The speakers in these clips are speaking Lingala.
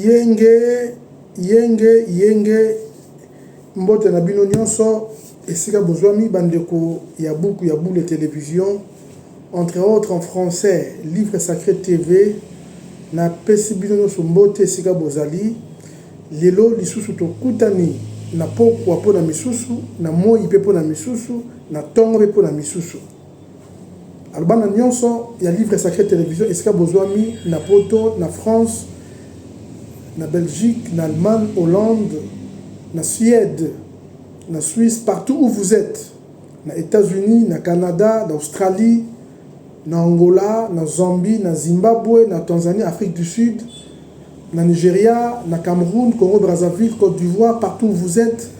Yenge yenge yenge mbote na bino nionso esika bozwami ba ndeko ya buku ya bule television entre autres en français livre sacre TV na pesi bino nionso mbote esika bozali lelo lisusu tokutani na pokua pona misusu na moyi pe pona misusu na tongo pe pona misusu Alors bana nionso ya livre sacre television esika bozuami na poto, na France, na Belgique, na Allemagne, Hollande, na Suède, na Suisse partout où vous etes, na Etats Unis, na Canada, na Australie, na Angola, na Zambie, na Zimbabwe, na Tanzanie, Afrique du Sud, na Nigeria, na Cameroun, Congo-Brazzaville, Cote d'Ivoire, partout où vous etes,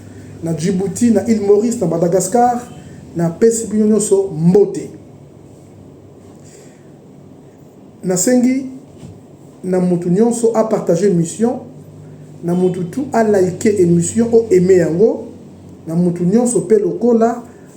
na Djibouti, na Ile Maurice, na Madagascar, na pesi bino nyoso mbote. Na sengi na mutu nyoso a partager mission, na mutu tout a like emission o aimer yango, na mutu nyoso pe lokola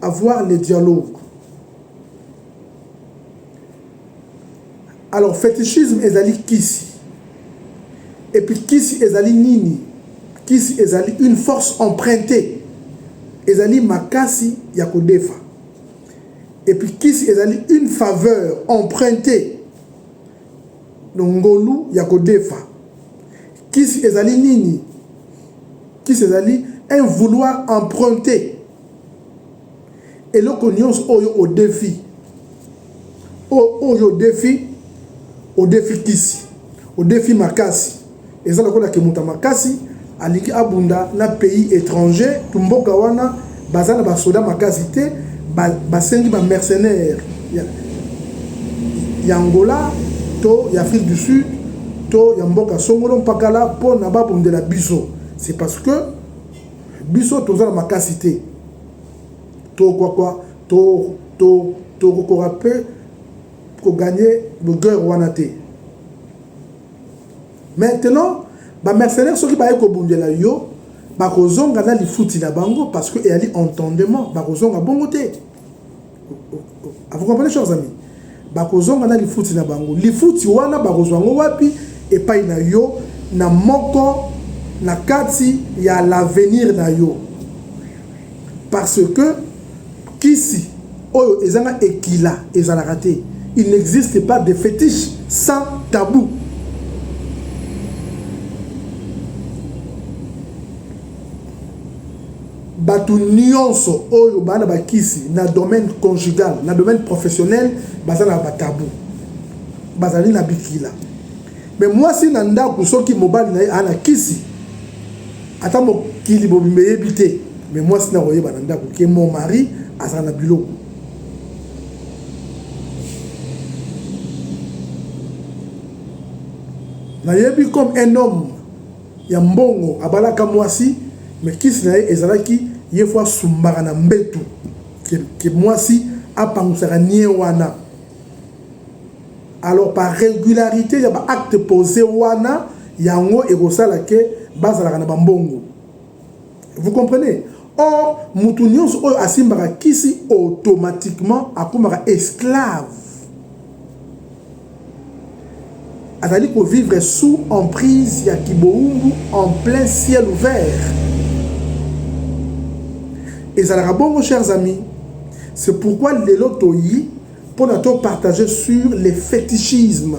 Avoir le dialogue. Alors fetichisme ezali kisi. Et puis kisi ezali nini? Kisi ezali une force empruntée. Ezali makasi ya kodefa. Et puis kisi ezali une faveur empruntée. Donc ngolu ya kodefa. Kisi ezali nini? Kisi ezali un vouloir emprunté. eloko nyonso oyo odefi oyo odefi odefi kisi odefi makasi eza lokola ke moto ya makasi alingi abunda na pays étranger to mboka wana baza na basoda makasi te basengi ba mercenaire ya, ya angola to ya afrique du sud to ya mboka songolo mpakala mpo na babundela biso c'est parce que biso toza na makasi te tokokoka to, to, to mpe koganye guerre wana te maintenant bamercenaire soki baye kobundela yo bakozonga na lifuti na bango parce que eyali entendement bakozonga bongo te Vous comprenez, chers amis? Bakozonga na lifuti na bango. Lifuti wana bakozwa yango wapi? Epai na yo na moko na kati ya l'avenir na yo. Parce que kisi oyo ezanga ekila ezalaka te. Il n'existe pas de fétiche sans tabou. Batu nionso oyo ba na ba kisi na domaine conjugal, na domaine professionnel baza na ba tabou. Bazali na bikila. Mais mwasi na ndaku soki mobali na ye a na kisi ata mokili bobimba eyebi te, mais mwasi na koyeba na ndaku ke mon mari azala na biloko. Nayebi comme un homme ya mbongo abalaka mwasi mais kisi na ye ezalaki ye faut asumbaka na mbetu que que mwasi apangusaka nie wana alors par regularite ya ba acte pose wana yango ekosala que bazalaka na ba mbongo Vous comprenez? Or, mutu nyonso oyo asimbaka kisi automatiquement akomaka esclave. Azali ko vivre sous emprise ya kiboumbu en plein ciel ouvert. Ezalaka bongo chers amis. C'est pourquoi lelo toyi Pour na to partager sur les fétichismes.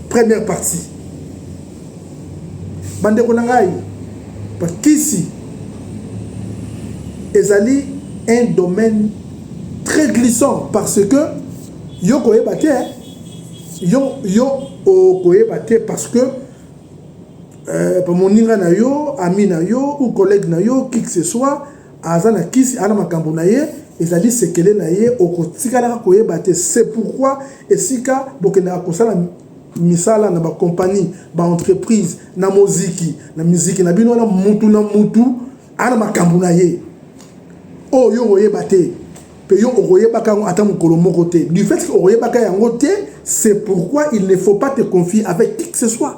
Première partie. Bande ko na ngai bakisi ezali un domaine très glissant parce que yo koyeba te yo yo okoyeba te parce que euh, moninga na yo ami na yo ou collègue na yo qui que ce soit aza na kisi ana makambo na ye ezali sekele na ye okotikalaka koyeba te c'est pourquoi esika bokendaka kosala misala na bakompani baentreprise na moziki na miziki na bino wana mutu na mutu ana makambo na ye oyo yo okoyeba te mpe yo okoyebaka yango ata mokolo moko te du fait que okoyebaka yango te c'est pourquoi il ne faut pas te confier avec qui que ce soit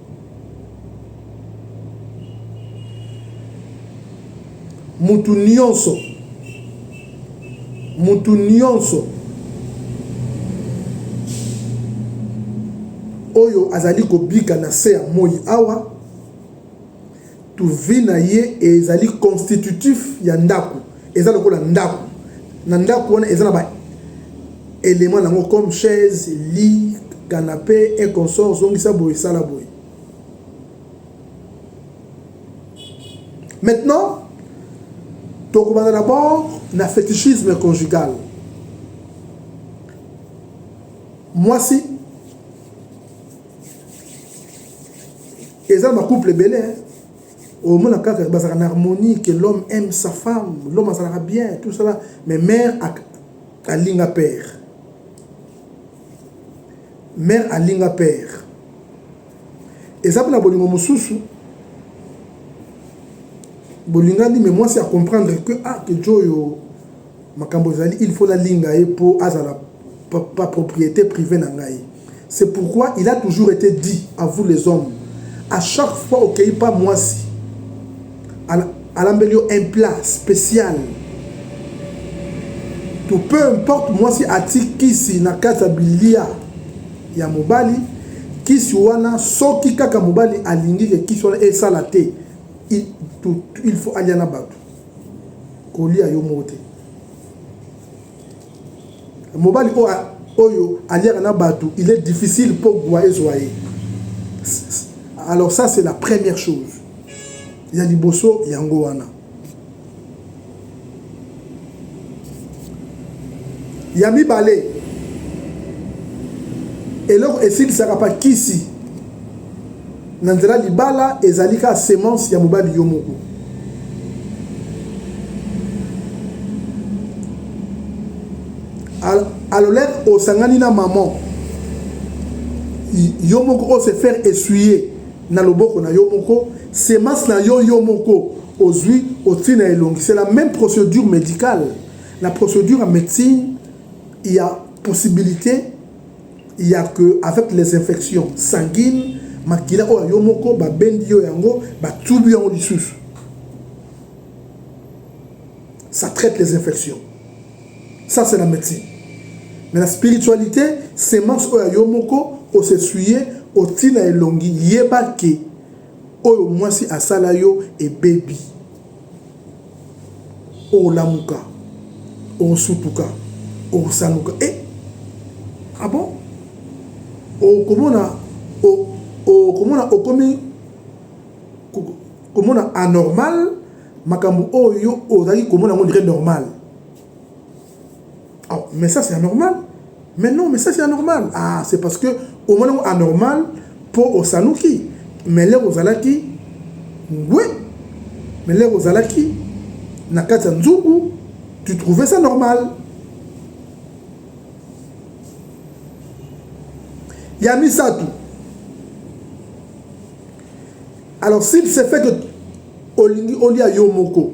mutu nionso mutu nionso oyo azali kobika na se ya moi awa Tuvi na ye ezali constitutif ya ndako, eza lokola ndako. Na ndako wana eza na ba element nango comme chaise, lit, canape et consort, zongisa boye sala boye. Maintenant, tokobanda d'abord na fetichisme conjugal. Mwasi eza ba couple ebele hein. omona kaka bazalaka na harmonie que l'homme aime sa femme l'homme azalaka bien tout cela mais mère alinga père mère alinga père eza mpe na bolingo mosusu bolingani mais mwasi acomprendre que ah kejo oyo Makambo ezali il faut nalinga ye po azala pa propriete privee na ngai c'est pourquoi il a toujours ete dit à vous les hommes à chaque fois okeyi pa muasi alambeli yo un plat special to peu importe muasi ati kisi na kati ya bilia ya mobali kisi wana soki kaka mobali alingi ke kisi wana esala te il, il faut alia na bato Kolia yo moko te. Mobali oyo aliaka na bato, il est difficile mpo gwa ezwa ye. Alors ça c'est la première chose. Ya liboso yango wana. Ya mibale, eloko esilisaka pa kisi na nzela libala ezali kaka semence ya mobali yo moko alolek osangani na maman yo moko o se faire essuyer na loboko na yo moko semence na yo yo moko ozwi otii na elongi c'est la même procédure médicale na procédure ya médecine ya possibilité ya que avec les infections sanguines makila oyo yo moko babendi yo yango batubi yango lisusu ça traite les infections ça c'est la médecine mais la spiritualité semence oyo ya yo moko osesuye otina elongi yeba ke oyo mwasi asala yo ebebi olamuka osutuka osanguka e eh, abo ah okomona okomona okomi komona anormal makambo oyo ozalaki komona yango ndire normal mais ça c'est anormal mais non mais ça c'est anormal ah c'est parce que omoni yango anormal mpo osanuki mais lere ozalaki ngwe mais lere ozalaki na kati ya nzungu tu trouvais ça normal ya misato alors s'il se fait que olingi olia yo moko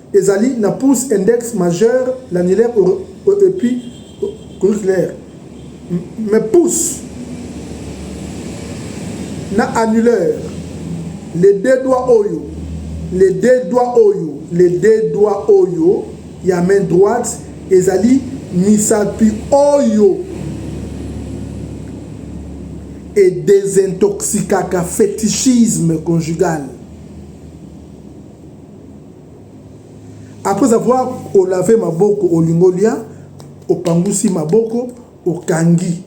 Ezali na pouce, index, majeur, l'annulaire et puis auriculaire. Mais pouce na annulaire, les deux doigts oyo, les deux doigts oyo, les deux doigts oyo ya main droite ezali misapi oyo et désintoxicaka fetichisme conjugal. Après avoir olave maboko olingi olia, opangusi maboko, okangi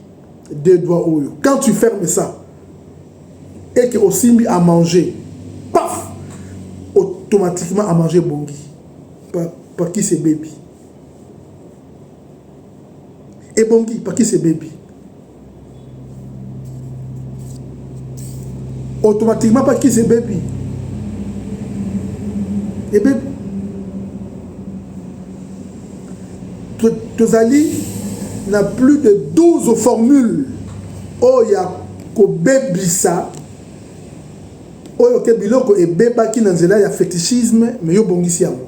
deux doigts oyo. Quand tu fermes ça, et que osimbi à manger, paf, automatiquement à manger bongi. Paki se baby. Ebongi, paki se baby. automatiquement mpa kisi ebebi ebebi tozali na plus de 12 formule oyo ya kobebisa oyo ke biloko ebebaki na nzela ya fetichisme me yo obongisi yango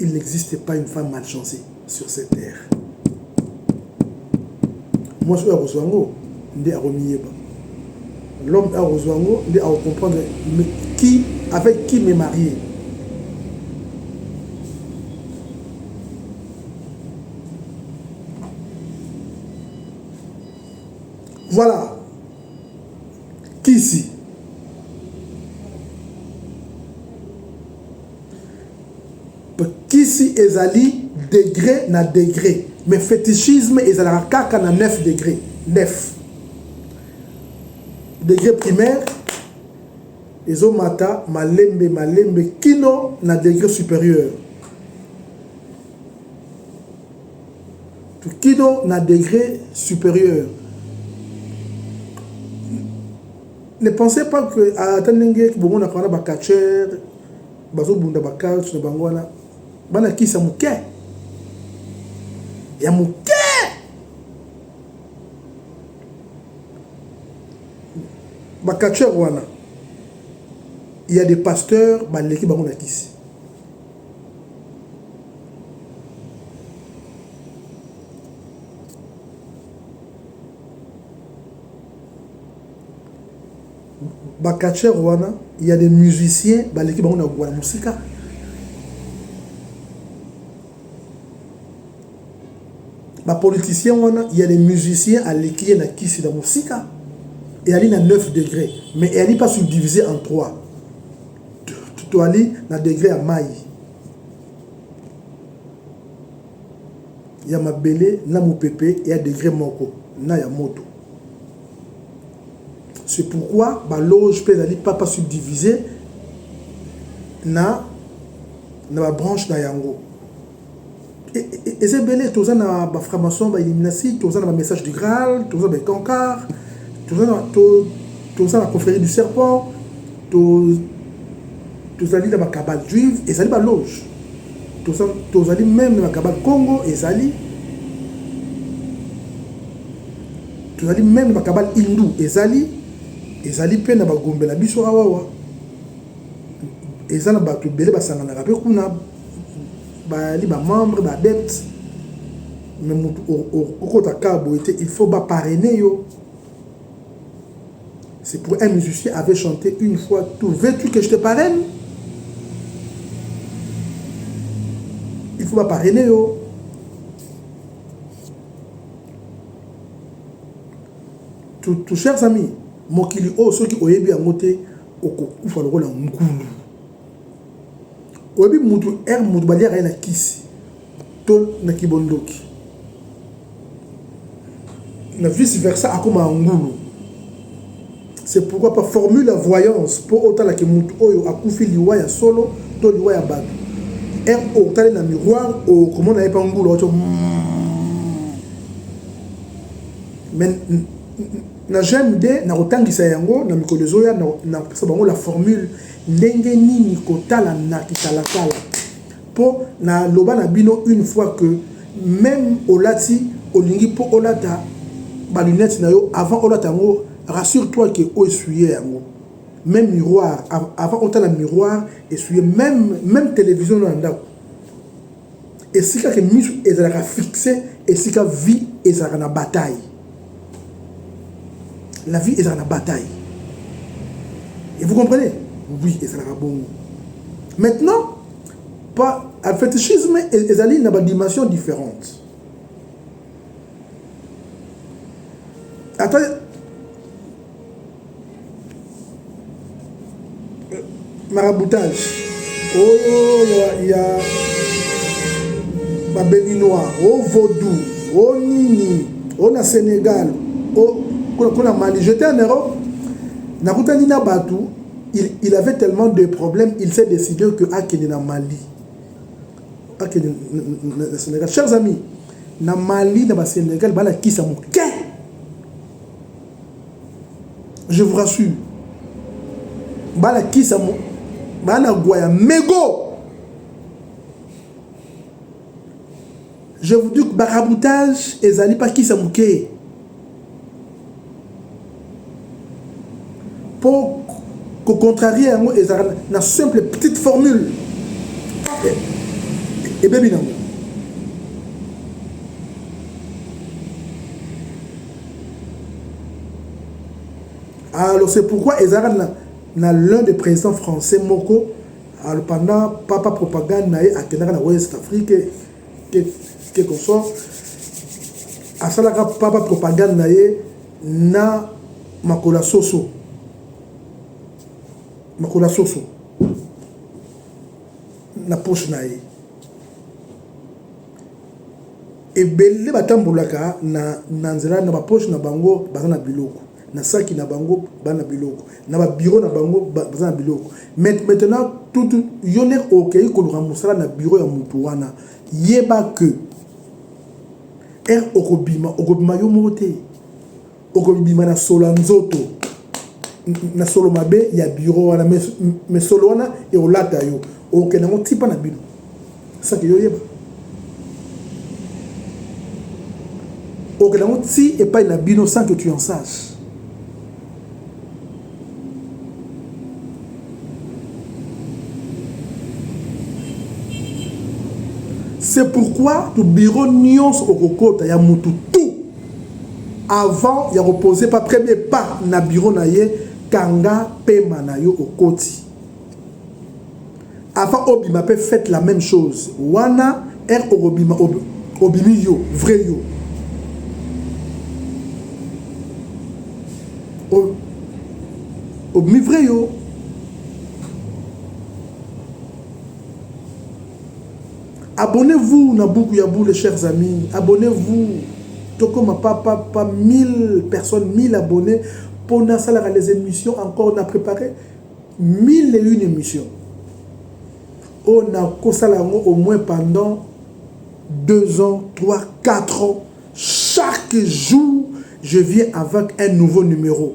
Il n'existe pas une femme mal chancee sur cette terre. Mwasi oyo akozwa yango nde akomiyeba. L'homme oyo akozwa yango nde akokomprendre qui avec qui me marier. Voilà. Kisi. kisi ezali degre na degre mais fetichisme ezalaka kaka na 9 degre 9 degre primaire ezomata malembe malembe kino na degre supérieur kino na degre supérieur ne pensez pas que ata ndenge bomonaka wana bacatcher Bazo bunda ba cult na bango wana bana kisa muke ya muke ba catcheur wana il y a des pasteurs baleki bango na kisi ba catcheur wana il ya des musiciens baleki bango na guana musika ba politiciens wana il ya des musiciens aleki ye na kisi na musika eyali na 9 degré mais eyali pas subdivisé en 3 toali na degré ya mai ya mabele na mopepe ya degré moko na ya moto C'est pourquoi ba loges pe ezali papa subdivises na na ba branches na yango. Eza ebele toza na ba francs-maçons, ba illuminati, toza na ba messages du Graal, toza na ba Etonkar, toza na to toza na confrérie du serpent, to tozali na ba cabales juives, ezali ba loges. Toza tozali même na ba cabales Congo ezali Tozali meme ba cabale hindu ezali ezali pe na ba gombe na biso awawa eza na batu ebele basanganaka pe kuna bayali ba membre ba adepte me mutu okota ka boye te il faut ba parrainer yo c'est pour un musicien avait chanté une fois tout veux-tu que je te parraine il faut ba parrainer yo Tu, tu, chers amis, mokili oyo soki oyebi yango te okokufa lokola ngulu. Oyebi mutu ere mutu baliaka ye na kisi to na kibondoki na vice versa akoma ngulu. C'est pourquoi pas formule ya voyance mpo otala ke motu oyo akufi liwa ya solo to liwa ya bato. Heure otali na miroir okomona ye mpa ngulu oto mais na gmd nakotangisa yango na mikolo ezoya nakopesa bango la formule ndenge nini kotala na kitalatala Po na loba na bino une fois que meme olati olingi po olata ba lunettes na yo avant olata yango rassure toi que o essuyer yango meme miroir avant otala miroir essuyer meme meme television na ndako esika que misu ezalaka fixe esika vie ezalaka na bataille la vie ezalaka na bataille et vous comprenez oui ezalaka bongo maintenant pa fetichisme e-, ezali na badimension différente ata maraboutage oh, ya, ya babelinois o oh, vaudou o oh, nini o oh, na sénégal o oh, kuna mali j'étais en europe nakutani na bato il, il avait tellement de problèmes il s'est décidé que akende na mali akende na sénégal chers amis na mali na basénégal balakisa moke je vous rassure balakisa bana gwa ya mego je vous dis barabutage ezali bakisa moke mpo kocontrarie yango ezalaka na simple petite formule ebebi nango Alors c'est pourquoi ezalaka na, na l'un des présidents français moko alors pendant papa propagande na ye akendaka na West Afrique quelque soit asalaka papa propagande na ye na makolo ya soso makolo ya soso na poche na ye Ebele batambolaka na na nzela na ba poche na bango baza na biloko na saki na bango baza na biloko na ba bureau na bango baza na biloko mais maintenant tout yo nde okei koluka mosala na bureau ya motu wana yeba que heure okobima okobima yo moko te okobima na solo ya nzoto na solo mabe ya biro wana me solo wana ekolata yo okokende yango tipa na bino saki yo oyeba okokende yango ti epai na bino sans que tu en sache c'est pourquoi to biro nyonso okokota ya motu Avant ya ko poser pa premier pas na bureau na ye, kanga pema na yo okoti. Avant obima pe faites la meme chose. Wana heure okobima obimi yo, vrai yo. Obimi vrai yo. Abonnez vous na buku ya bule chers amis abonnez vous tokoma pa pa pa 1000 personnes 1000 abonnez mpo nasalaka les émissions encore na préparer 1000 et une émission oyo oh, nakosala yango au moins pendant 2 ans 3 4 ans chaque jour je viens avec un nouveau numéro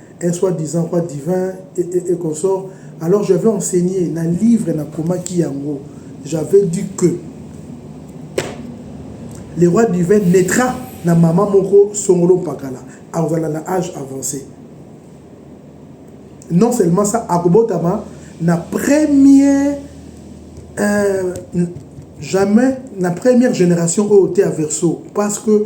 un soit disant roi divin et, et, et consort alors je avais enseigné na livre na komaki yango j'avais dit que le roi divin naîtra na mama moko songolo mpakala akozala na age avancé non seulement ça akobotama na premier euh, jamais na première génération oyo te ya verso parce que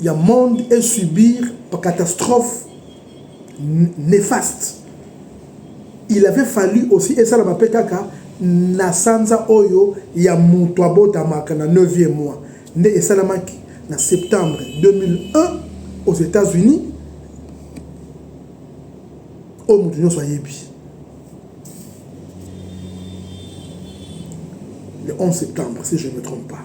ya monde e subir ba catastrophe nefaste il avait fallu aussi esalama mpe kaka na sanza oyo ya moto abotamaka na 9e mois nde esalamaki na septembre 2001 aux États-Unis oyo moto nyonso ayebi le 11 septembre si je ne me trompe pas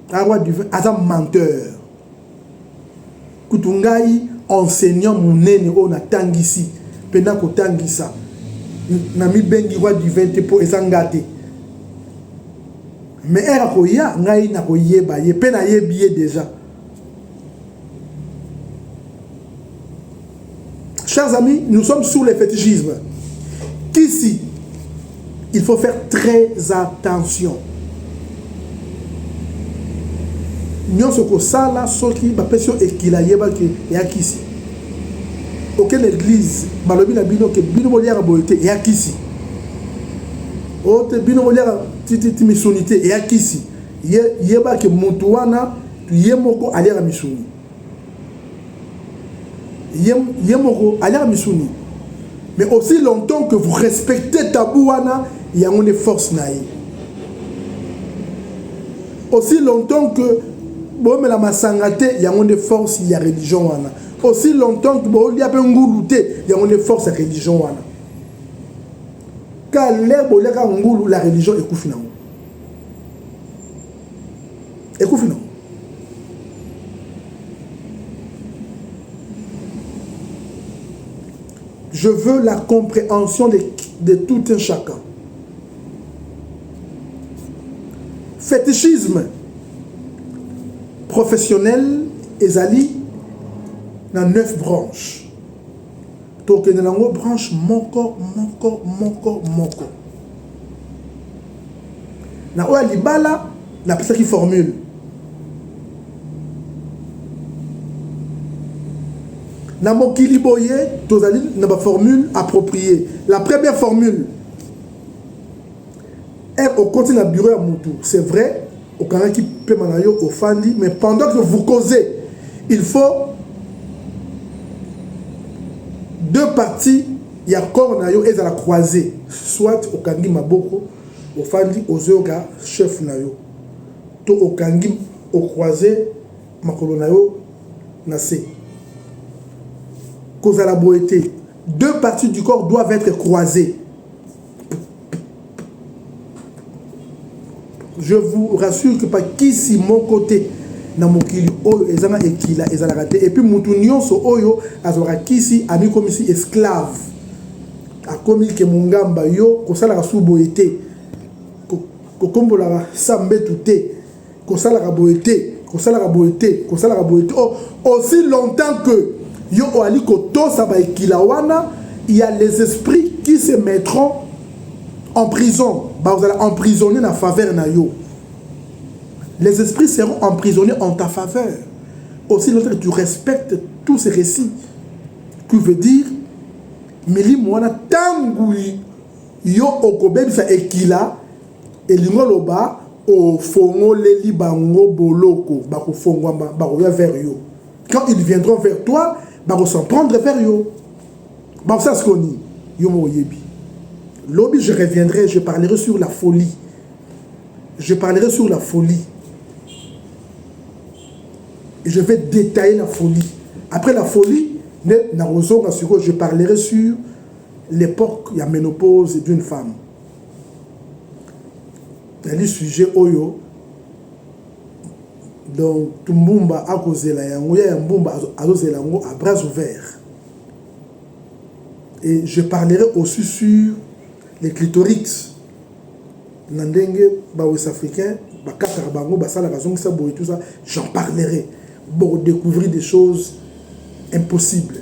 arwa divin aza menteur kutu ngai enseignant monene oyo natangisi mpe nakotangisa namibengi roi divin te mpo eza nga te mais ere akoya ngai nakoyeba ye mpe nayebi ye deja Chers amis, nous sommes sous le fétichisme. Qu'ici, il faut faire très attention. nyonso kosala soki bapesi yo ekila yebaki ya kisi okende eglize balobi na bino ke bino boliaka boye te ya kisi ote bino boliaka tititi misuni te ya kisi yebaki motu wana ye moko aliaka misuni ye, ye moko aliaka misuni mais aussi longtemps que vous respectez tabou wana yango nde force na ye aussi longtemps que bomela masanga te yango nde force ya religion wana aussi longtemps que bolia mpe ngulu te yango nde force ya religion wana kale boliaka ngulu la religion ekufi nango ekufi no je veux la compréhension de, de tout un chacun fétichisme professionnel ezali na neuf branches tokende nango branche moko moko moko moko na oyo ya libala napesaki formule na mokili boye tozali na baformule approprié la première formule e okoti na bureau ya motu c'est vrai okangaki pema na yo ofandi mais pendant que vous causez il faut deux parties ya corps na yo ezala croise soit okangi maboko ofandi ozoyoka chef na yo to okangi ocroise makolo na yo na se kozala boye te deux parties du corps doivent être croisées je vous rassure que pa kisi moko te na mokili oyo eza na ekila ezalaka te epuis motu nyonso oyo azwaka kisi amikomisi esclave akomi ke mongamba yo kosalaka su boye te kokombolaka sa mbetu te kosalaka boye te kosalaka boye te kosalaka boye te oh, aussi longtemps que yo oali kotosa baekila wana il y a les esprits qui se mettront en prison bakozala emprisonné na faveur na yo les esprits seront emprisonnés en ta faveur aussi longtemps que tu respectes tous ces récits qui veut dire milimo wana ntango yo okobebisa ekila Elingi oloba ofongoleli bango boloko, bakofongwama, bakoya vers yo. Quand ils viendront vers toi, bako s'en prendre vers yo. Bakosala sikoyo nini? Yo moko oyebi. Lobi je reviendrai, je parlerai sur la folie. Je parlerai sur la folie. Et je vais détailler la folie. Après la folie, je parlerai sur l'époque, la ménopause d'une femme. ezali sujet oyo donc Mbumba akozela yango ya Mbumba azozela yango à bras ouverts et je parlerai aussi sur les clitorix na ndenge ba West Africains bakataka bango basalaka bazongisa boye tout ça j'en parlerai boko découvrir des choses impossibles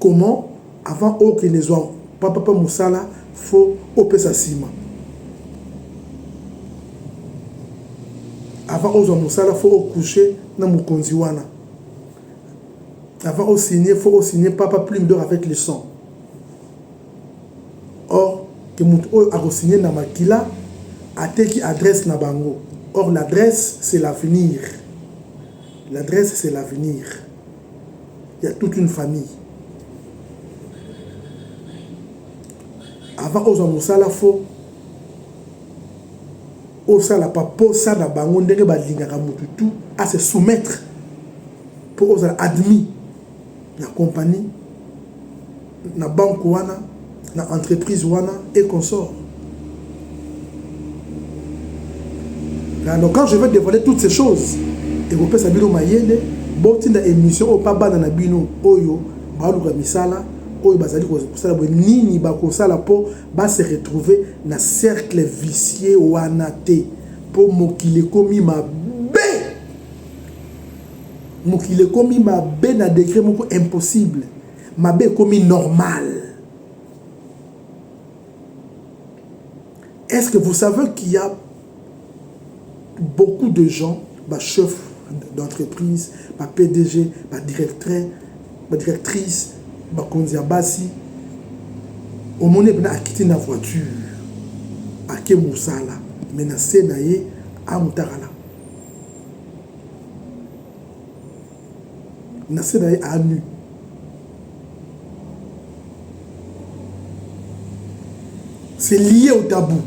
comment avant okende zua papa pe musala faut opesa sima avant ozua musala faut o couche na mukonzi wana avant o signe faut o signe papa plume d'or avec le sang or que mutu oyo ako signe na makila ateki adresse na bango or l'adresse c'est l'avenir l'adresse c'est l'avenir ya toute une famille avant ozwa mosala fo osala pa posa na bango ndenge balingaka motu tu a se soumettre mpo ozala admis na compagnie na banque wana, na entreprise wana et consorts. Alors quand je vais dévoiler toutes ces choses, ekopesa bino mayele botinda émission oyo mpa bana na bino oyo baluka misala oyo bazali kosala boye nini bakosala mpo base retrouver na cercle vicier wana te mpo mokili ekomi mabe mokili ekomi mabe na degre moko impossible mabe ekomi normal est-ce que vous savez qu'il y a beaucoup de gens ba chef d'entreprise ba pdg ba directeur ba directrice bakonzi ya basi omoni epena akiti na voiture ake mosala me na se na ye amutakala na se na ye a nu. C'est lié au tabou.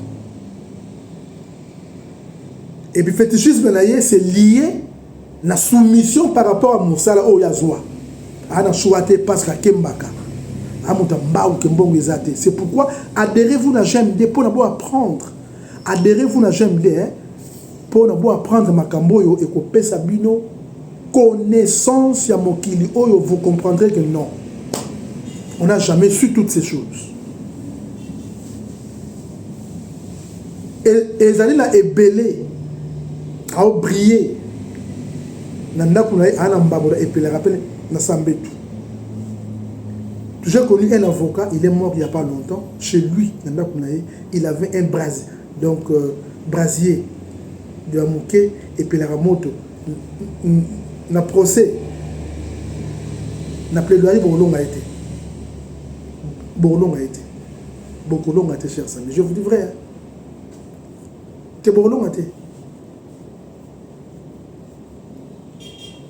Et puis fétichisme na ye c'est lié na soumission par rapport à mosala oyo azwa. Ana choix te parce que akembaka. Amuta mbau ke mbongo eza te. C'est pourquoi adhérez-vous na GMD pour na bo apprendre. Adhérez-vous na GMD hein. Pona bo apprendre makambo oyo ekopesa bino connaissance ya mokili oyo vous comprendrez que non on n'a jamais su toutes ces choses. E, ezali na ebele aobrille na ndako na ye aa na mbabola epelaka mpe na sambetu j'ai connu un avocat il est mort il y a pas longtemps chez lui na ndako na ye il avait un brase Donc brasier de ya muke epelaka moto na procès na plaidoirie bokolonga ye te bokolonga ye te bokolonga te cher sami je vous dis vrai hein? te bokolonga te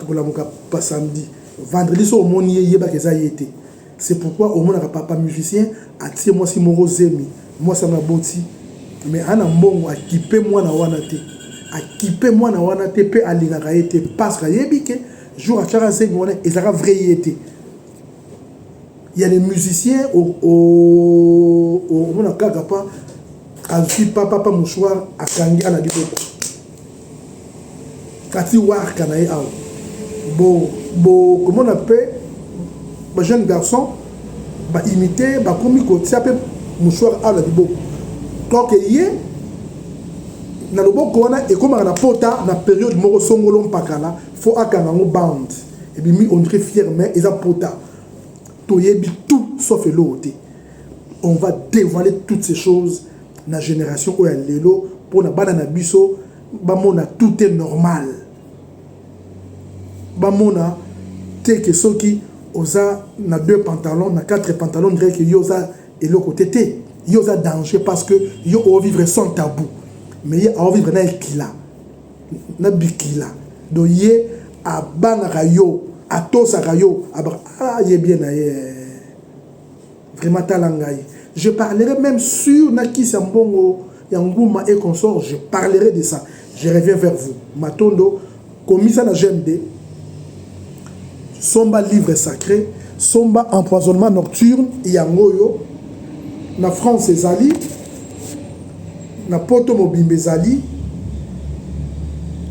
akolamuka pa samedi vendredi soki omoni ye yebaka eza ye te c'est pourquoi omonaka papa musicien atie mwasi moko zemi mwasi yango aboti mais ana mbongo akipe mwana wana te akipe mwana wana te mpe alingaka ye te parce que ayebi ke jour atiaka zemi wana ezalaka vrai ye te Il y a des musiciens au, au, au, au mona kaka pa azwi papa pa mouchoir akangi ana liboko kati warka na ye awa bokomona bo, mpe bajeune garçon baimite bakomi kotia mpe mouchoir awa na liboko toke ye na loboko wana ekomaka na pota na periode moko songolo mpakala fo akanga yango bande ebimi ondre fiere mais eza pota toyebi tout sauf eloko te on va devoile toutes ces choses na generation oyo ya lelo mpo na bana na biso bamona tout est normal bamona te ke soki oza na deux pantalon na quatre pantalon ndire ke yo oza eloko te te yo oza danger parce que yo ovivre sans tabou mais ye aovivre na ekila na bikila do ye abangaka yo atosaka yo aba ah ye bien na ye vraiment tala ngai je parlerai même sur na kisi ya mbongo ya nguma et consort je parlerai de ça je reviens vers vous matondo komisa na gmd somba livre sacre somba empoisonnement nocturne yango oyo na france ezali na poto mobimba ezali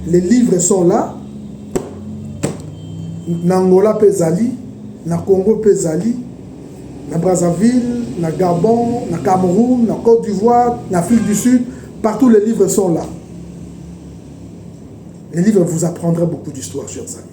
les livres sont là na angola mpe ezali na congo mpe ezali na brazzaville na gabon na cameroun na côte d'ivoire na afrique du sud partout les livres sont là les livres vous apprendront beaucoup d'histoire chers amis